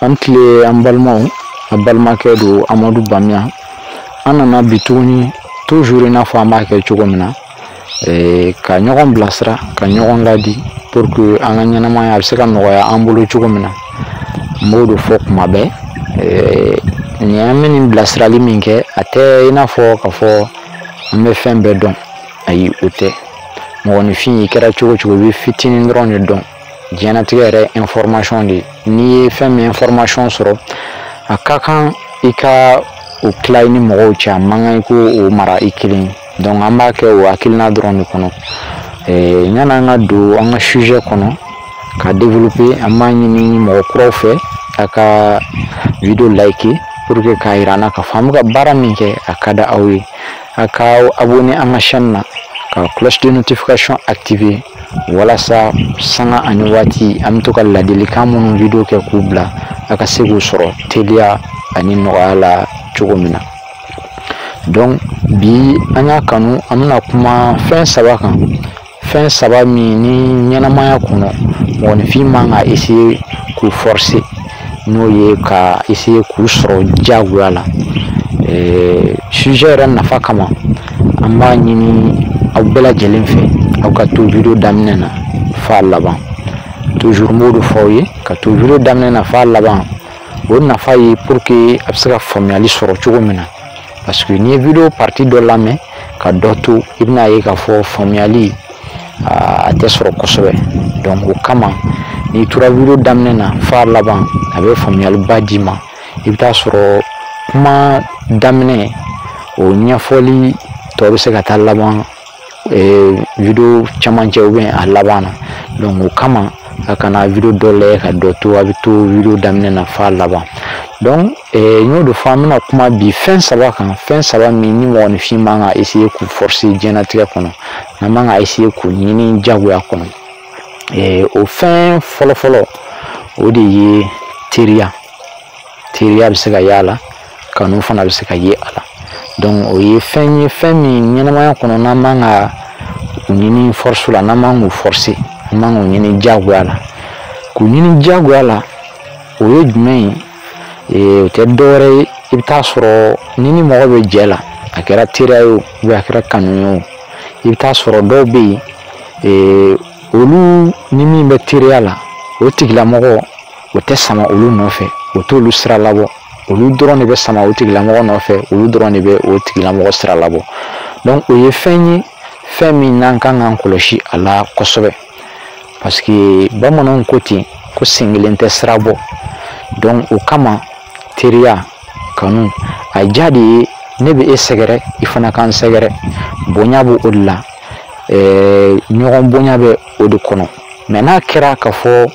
a ni tile an balimaw a balimakɛ don amadu bamiya an nana bi tuguni toujours i n'a fɔ an b'a kɛ cogo min na eh, ka ɲɔgɔn bilasira ka ɲɔgɔn ladi pour que an ka ɲɛnamaya a bɛ se ka nɔgɔya an bolo cogo min na n b'o de fɔ kuma bɛɛ eh, nin an bɛ nin bilasirali min kɛ a tɛ i n'a fɔ k'a fɔ an bɛ fɛn bɛɛ dɔn ayi o tɛ mɔgɔninfin i kɛra cogo o cogo i bɛ fitinin dɔrɔn de dɔn diɲɛnatigɛ yɛrɛ information de ye n'i ye fɛn min information sɔrɔ a ka kan i ka o tila i ni mɔgɔw cɛ a man kan i ka o mara i kelen donc an b'a kɛ o hakilina dɔrɔn de kɔnɔ yani an ka don an ka sujet kɔnɔ ka développer an b'a ɲini mɔgɔ kuraw fɛ a ka video like pour que k'a yira an na k'a fɔ an bɛ ka baara min kɛ a ka di aw ye a ka abonner an ka chaîne na ka cloche de notification activer walasa sanga ani waati an bɛ to ka ladilikan minnu video kɛ k'u bila a ka se k'u sɔrɔ teliya ani nɔgɔya la cogo min na donc bi an y'a kanu an bɛna kuma fɛn saba kan fɛn saba min ni ɲɛnamaya kɔnɔ mɔgɔninfin man ka essayer k'u forcer n'o ye ka essayer k'u sɔrɔ diyagoya la sujet yɛrɛ nafa kama an b'a ɲini aw bɛɛ lajɛlen fɛ aw ka to video daminɛ na f'a laban toujours n b'o de fɔ aw ye ka to video daminɛ na f'a laban o nafa ye pour que a bɛ se ka faamuyali sɔrɔ cogo min na parce que n'i ye video partie dɔ lamɛn ka dɔ to i bɛn'a ye k'a fɔ faamuyali a tɛ sɔrɔ kosɛbɛ donc o kama n'i tora video daminɛ na f'a laban a bɛ faamuyaliba d'i ma i bɛ t'a sɔrɔ kuma daminɛ o ɲɛfɔli tɔ bɛ se ka taa laban video camancɛ ou bien a laban na donc o kama a kana video dɔ lajɛ ka dɔ to a bɛ to video daminɛ na f'a laban donc n y'o de fɔ an bɛna kuma bi fɛn saba kan fɛn saba min ni mɔgɔninfin man ka essayer k'u forcer diɲɛnatigɛ kɔnɔ n'an man ka essayer k'u ɲini diyagoya kɔnɔ o fɛn fɔlɔfɔlɔ o de ye teriya teriya bɛ se ka y'a la kanu fana bɛ se ka ye a la donc o ye fɛn ye fɛn min ɲɛnamaya kɔnɔ n'an man ka u ɲini force la n'an man k'u forcer an man k'u ɲini diyagoya la k'u ɲini diyagoya la o ye jumɛn ye o tɛ dɔwɛrɛ ye i bɛ taa sɔrɔ n'i ni mɔgɔ bɛ jɛ la a kɛra teriya ye o ou bien a kɛra kanu ye o i bɛ taa sɔrɔ dɔw bɛ yen olu ni min bɛ teriya la o tigilamɔgɔ o tɛ sama olu nɔfɛ o t'olu sira labɔ olu dɔrɔn de bɛ sama o tigilamɔgɔ nɔfɛ olu dɔrɔn de bɛ o tigilamɔgɔ sira labɔ donc o ye fɛn ye fɛn min n'an kan k'an kɔlɔsi a la kosɛbɛ parce que bamananw ko ten ko sen kelen tɛ sira bɔ donc o kama teriya kanu a diya de ye ne bɛ e sɛgɛrɛ i fana k'an sɛgɛrɛ bonya b'o de la ɲɔgɔn bonya bɛ o de kɔnɔ mais n'a kɛra k'a fɔ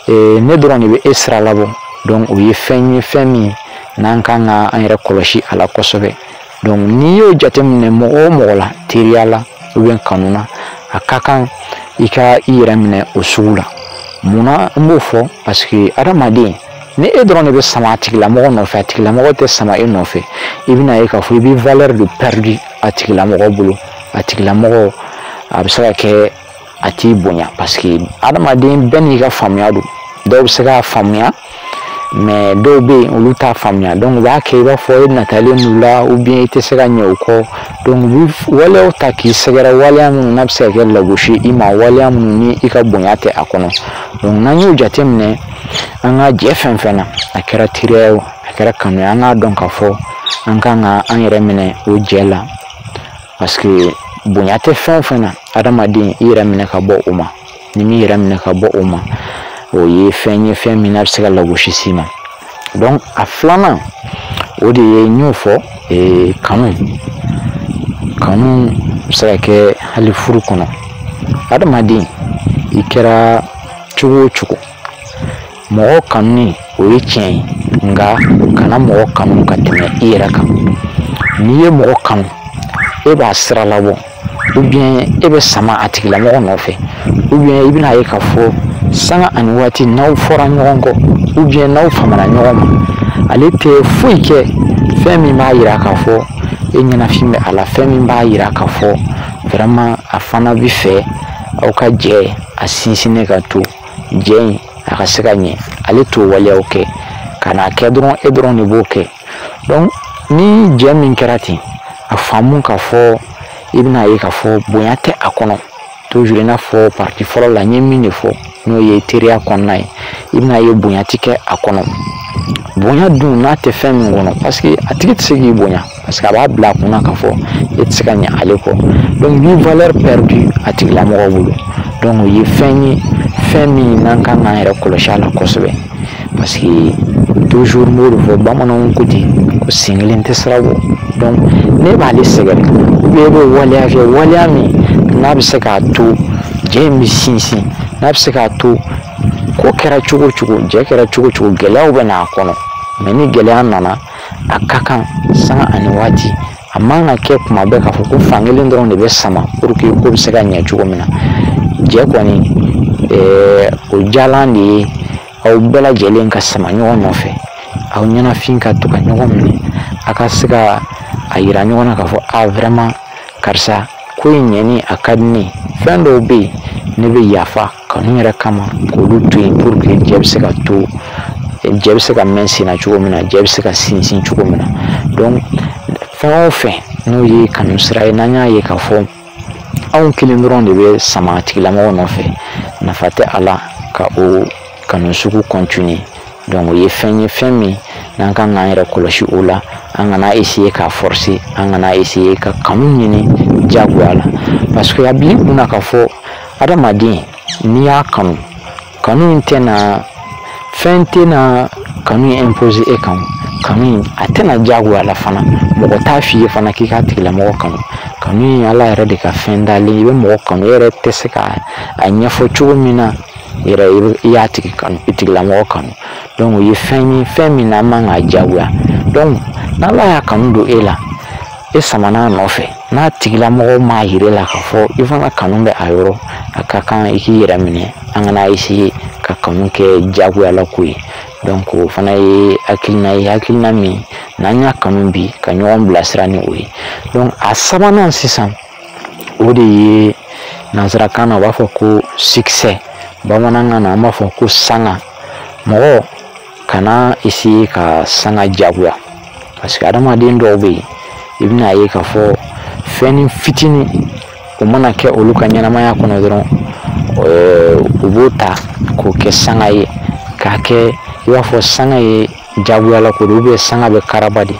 ee, ne dɔrɔn de bɛ e sira labɔ donc o ye fɛn ye fɛn min n'an kan ka an yɛrɛ kɔlɔsi a la kosɛbɛ donc n'i y'o jateminɛ mɔgɔ o mɔgɔ la teriya la ou bien kanu na a ka kan i ka i yɛrɛ minɛ o sugu la mun na n b'o fɔ parce que adamaden ni e dɔrɔn de bɛ sama a tigilamɔgɔ nɔfɛ a tigilamɔgɔ tɛ sama e nɔfɛ i bɛna ye k'a fɔ i bɛ valeur de perdu a tigilamɔgɔ bolo a tigilamɔgɔ a bɛ se ka kɛ a t'i bonya parce que adamaden bɛɛ n'i ka faamuya don dɔw bɛ se k'a faamuya mais dɔw bɛ yen olu t'a faamuya donc u b'a kɛ i b'a fɔ e natalen n'u la ou bien i tɛ se ka ɲɛ u kɔ donc u bɛ waleyaw ta k'i sɛgɛrɛ waleya minnu n'a bɛ se ka kɛ lagosi i ma waleya minnu ni i ka bonya tɛ a kɔnɔ donc n'an y'o jateminɛ an ka jɛ fɛn fɛn na a kɛra teriya ye o a kɛra kanu ye an k'a dɔn k'a fɔ an kan ka an yɛrɛ minɛ o jɛ la parce que bonya tɛ fɛn o fɛn na adamaden i yɛrɛ minɛ ka bɔ o ma n'i m'i yɛrɛ minɛ ka bɔ o ma o ye fɛn ye fɛn min n'a bɛ se ka lagosi s'i ma donc a filanan o de ye n y'o fɔ ee kanu kanu bɛ se ka kɛ hali furu kɔnɔ adamaden i kɛra cogo o cogo mɔgɔ kanuni o ye tiɲɛ ye nka kana mɔgɔ kanu ka tɛmɛ i yɛrɛ kan n'i ye mɔgɔ kanu e b'a sira labɔ ou bien e bɛ sama a tigilamɔgɔ nɔfɛ ou bien i bɛna ye k'a fɔ sanga ani waati n'aw fɔra ɲɔgɔn kɔ ou bien n'aw famana ɲɔgɔn ma ale tɛ foyi kɛ fɛn min b'a yira k'a fɔ e ɲɛnafin bɛ a la fɛn min b'a yira k'a fɔ vraiment a fana bɛ fɛ aw ka jɛ a sinsinnen ka to jɛ in a ka se ka ɲɛ ale t'o waleyaw kɛ ka n'a kɛ dɔrɔn e dɔrɔn de b'o kɛ donc ni jɛ min kɛra ten a faamu ka fɔ i bɛna ye k'a fɔ bonya tɛ a kɔnɔ toujours i n'a fɔ partie fɔlɔ la n ye min de fɔ n'o ye teriya kɔnɔna ye i bɛna ye bonya ti kɛ a kɔnɔ bonya dun n'a tɛ fɛn min kɔnɔ parce que a tigi tɛ se k'i bonya parce que a b'a bila a kunna k'a fɔ e tɛ se ka ɲɛ ale kɔ donc ni valeur perdue a tigilamɔgɔ bolo donc o ye fɛn ye fɛn min n'an kan k'an yɛrɛ kɔlɔsi a la kosɛbɛ parce que toujours n b'o de fɔ bamananw ko ten ko sen kelen tɛ sira bɔ donc n'e b'ale sɛgɛrɛ ou bien e bɛ waleya kɛ waleya min n'a bɛ se k'a to jɛ in bɛ sinsin n'a bɛ se k'a to ko kɛra cogo o cogo jɛ kɛra cogo o cogo gɛlɛyaw bɛ n'a kɔnɔ mais ni gɛlɛya nana a ka kan sanga ani waati a man ka kɛ kuma bɛɛ k'a fɔ ko fankelen dɔrɔn de bɛ sama pour que ko bɛ se ka ɲɛ cogo min na jɛ kɔni o jalan de ye aw bɛɛ lajɛlen ka sama ɲɔgɔn nɔfɛ aw ɲɛnafin ka to ka ɲɔgɔn minɛ a ka se ka a yira ɲɔgɔn na k'a fɔ a vraiment karisa ko in ɲɛni a ka di ne fɛn dɔw bɛ yen ne bɛ yafa kanu yɛrɛ kama k'olu to yen pour que jɛ bɛ se ka to jɛ bɛ se ka mɛn senna cogo min na jɛ bɛ se ka sinsin cogo min na donc fɛn o fɛn n'o ye kanu sira ye n'an y'a ye k'a fɔ anw kelen dɔrɔn de bɛ sama a tigilamɔgɔ nɔfɛ nafa tɛ a la ka o kanu sugu continuer donc o ye fɛn ye fɛn min n'an kan k'an yɛrɛ kɔlɔsi o la an kana essayer k'a forcer an kana essayer ka kanu ɲini jagoya la parce que a bila i kunna k'a fɔ adamaden n'i y'a kanu kanu in tɛna fɛn tɛna kanu in imposer e kan kanu in a tɛ na jagoya la fana mɔgɔ t'a f'i ye fana k'i k'a tigilamɔgɔ kanu kanu in ala yɛrɛ de ka fɛn dalen i bɛ mɔgɔ kanu e yɛrɛ tɛ se ka a ɲɛfɔ cogo min na yɛrɛ i y'a tigi kanu i tigilamɔgɔ kanu donc o ye fɛn ye fɛn min n'an man k'a jagoya donc n'ala y'a kanu don e la e samana a nɔfɛ n'a tigilamɔgɔ m'a yira i la k'a fɔ i fana kanu bɛ a yɔrɔ a ka kan i k'i yɛrɛ minɛ an kana essayer ka kanu kɛ jagoyala ko ye donc o fana ye hakilina ye hakilina min n'an y'a kanu bi ka ɲɔgɔn bilasira ni o ye donc a sabanan sisan o de ye nanzarakan na u b'a fɔ ko succès bamanankan na an b'a fɔ ko sanga mɔgɔ kana essayer ka sanga jagoya parce que adamaden dɔw bɛ yen i bɛna ye k'a fɔ fɛnnin fitinin o mana kɛ olu ka ɲɛnamaya kɔnɔ dɔrɔn u b'o ta k'o kɛ sanga ye k'a kɛ i b'a fɔ sanga ye jagoya la ko don ou bien sanga bɛ karaba de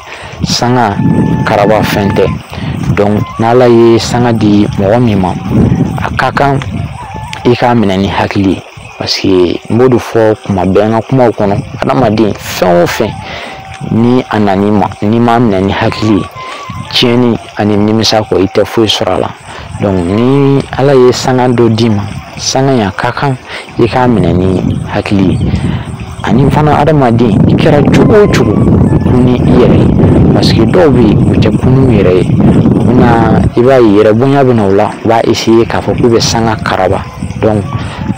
sanga karaba fɛn tɛ donc n'ala ye sanga di mɔgɔ min ma a ka kan i k'a minɛ ni hakili ye parce que n b'o de fɔ kuma bɛɛ n ka kumaw kɔnɔ adamaden fɛn o fɛn ni a nana i ma n'i m'a minɛ ni hakili ye tiɲɛni ani nimisa kɔ i tɛ foyi sɔrɔ a la ni ala ye sanga dɔ d'i ma sanga in a ka kan i k'a minɛ ni hakili ye ani fana adamaden i kɛra cogo o cogo kun i yɛrɛ ye parce que dɔw bɛ yen u tɛ kun u yɛrɛ ye u bɛna i b'a ye yɛrɛbonya bɛ na o la u b'a essayer k'a fɔ k'u bɛ sanga karaba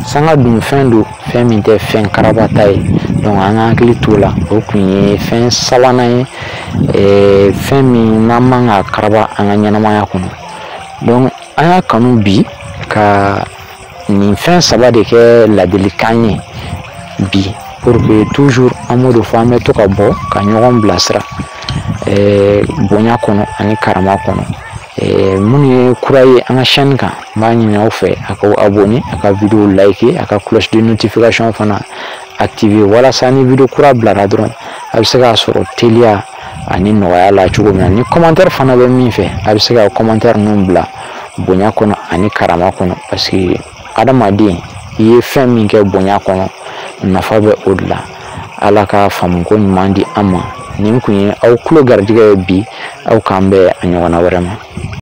sanga dun fɛn don fɛn min tɛ fɛn karabata ye donc an ka hakili t'o la o kun ye fɛn sabanan ye fɛn min n'an man ka karaba an ka ɲɛnamaya kɔnɔ donc an y'a kanu bi ka nin fɛn saba de kɛ ladilikan ye bi pour que toujours an b'o de fɔ an bɛ to ka bɔ ka ɲɔgɔn bilasira bonya kɔnɔ ani karama kɔnɔ minnu ye kura ye an ka chaîne kan n b'a ɲini aw fɛ a ka abonner a ka vidéo liker a ka cloche de notification fana activer walasa ni vidéo kura bilara dɔrɔn a bɛ se k'a sɔrɔ teliya ani nɔgɔya la cogo min na ni commentaire fana bɛ min fɛ a bɛ se ka commentaire ninnu bila bonya kɔnɔ ani karama kɔnɔ parce que adamaden i ye fɛn min kɛ bonya kɔnɔ nafa bɛ o de la ala ka faamuko ɲuman di an ma nin kun ye aw tulo garijɛgɛ ye bi aw k'an bɛn a ɲɔgɔnna wɛrɛ ma